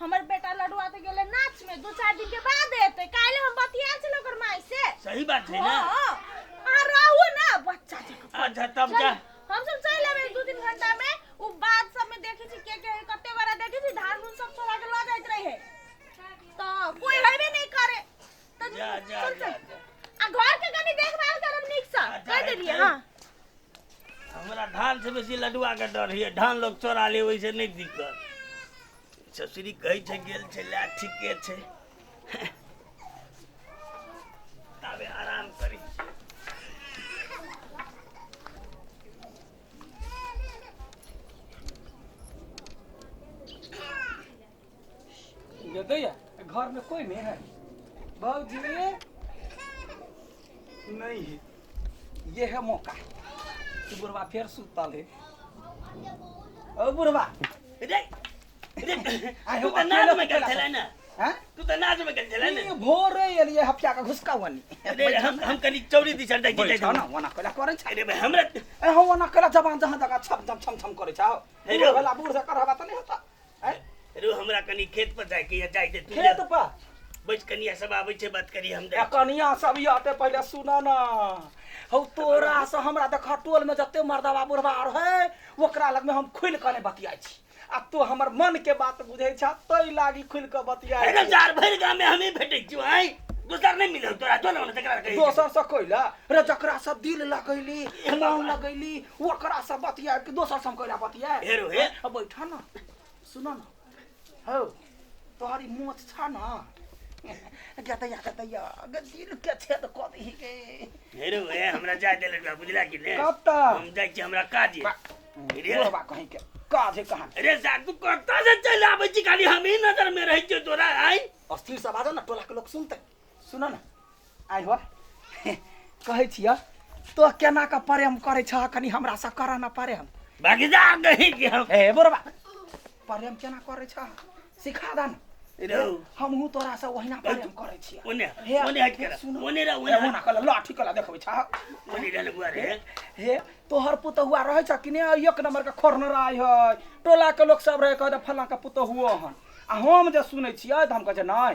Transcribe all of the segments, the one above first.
हमर बेटा लडुआ तऽ गेलै नाचमे दू चारि दिनके बाद एतै काल्हि हम बतियाल छलहुँ ओकर माइसे सही बात है ना हँ अहाँ रहू ने बच्चा जकाँ अच्छा तब जा हमसब चलि अबै दू तीन घंटामे ओ बाध सबमे देखै छी के के कते बड़ा देखै छी धान उन सब छोड़ा के लऽ जाइत रहै तऽ कोइ हेबे नहि करे तनी जा जा चल जा चल आ घर के कनी देखभाल करब नीक से अच्छा, कह देलिए अच्छा। हां हमरा धान से बेसी लडुआ के डर है धान लोग चोरा ले वैसे नहीं दिक्कत ससुरी कहै छै गेल छै ला ठीके छै ताबे आराम करी दैया घर में कोई नहीं है बाबूजी नहीं है ये है मौका तू बुढ़वा फिर सुतल है ओ बुढ़वा रे रे आय तू हो, त अकेले नाच में सुतल गेल छलै न हैं? तू त नाच में गेल छलै ई न भोर रे एलिए हफ्ता का घुसका वनी अरे हम हम कनी चौरी दिशा दे गेलै बैठा ना वना कला करे छै अरे भाई हमरा ए हो वना कला जबान जहां जगह छम छम छम छम करे छै हो हेलो। बूढ़ वाला बूढ़ से करहबा त नहीं होता आय रो हमरा कनी खेत पर जाय के या जाय दे तू खेत जा। पर बैठ कनिया सब आबै छै बात करी हम आ जाय कनिया सब ई आते पहिले सुन न हौ तोरा से हमरा देख टोल में जते मर्दवा बुढ़वा आर है ओकरा लग में हम खुल कने बतियाइ छी आ तू हमर मन के बात बुझै छ तै लागी खुल के बतियाइ अरे छी। जार भरि गाम में हमी भेटै छी आय दोसर नहीं मिलल तोरा जो ना तकरा कही दोसर से कोइला रे जकरा से दिल लगैली मन लगैली ओकरा से बतिया कि दोसर से हम कहला बतिया हे रो हे। अब बैठा ना सुनो ना हो तोहरी मोच छा ना गतैया गतैया गदिल के छेद क दही के हेरो हे हमरा जाय दे लड़का बुझला कि ने कब तक? हम जाय छी हमरा काज ये। रे बुढ़वा कहीं के काज है कहाँ अरे सार तू कत्ता से चल आबै छी खाली हमही नजर में रहै छियो तोरा आइ अस्थिर से बाजो ना टोला के लोग सुनते सुनऽ ने आइ हो कहै छिय तो केना के प्रेम करै छ कनी हमरा से कर न प्रेम भगजा नहीं कि हम ए बोरबा प्रेम केना करै छ सिखा द न रौ हमहू तोरा से ओहिना प्रेम करै छिय ओने हे, ओने हट के सुनू। ओने रे ओने ओना कल लाठी कला देखबै छ ओने रे बुआ रे हे तोहर पुतहुआ रहै छ कि नहि एक नंबर के खोरनराय है टोला के लोग सब रहै कहै फल्ला के पुतहुओ हन आ हम जे सुनै छियै तऽ हम कहै छै नहि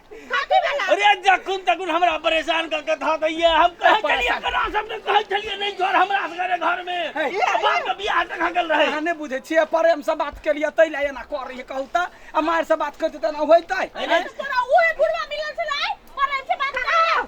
खाती वाला अरे जखन तखन हमरा परेशान कर के धा दैया हम कहे छलिए परेशान। कना सब ने कहे छलिए नहीं जोर हमरा सगरे घर में हे। ये बाप के बियाह तक हगल रहे अहाँ नहि बुझै छियै प्रेम से बात केलियै तै लए एना कर रही कहू तऽ आ मारि से बात करतै तऽ एना होइतै अरे तोरा उहे बुढ़वा मिलल छलै परेम से बात कर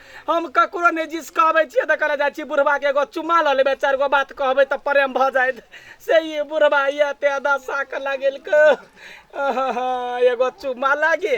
हम ककरो नहि जिसकाबै छियै तऽ कहले जाइ छी बुढ़बाके एगो चुम्मा लऽ लेबै चारि गो बात कहबै तऽ प्रेम भऽ जायत से ई बुढ़बा इएह ते दशा के लगेलकै आहा, एगो चुम्मा लागे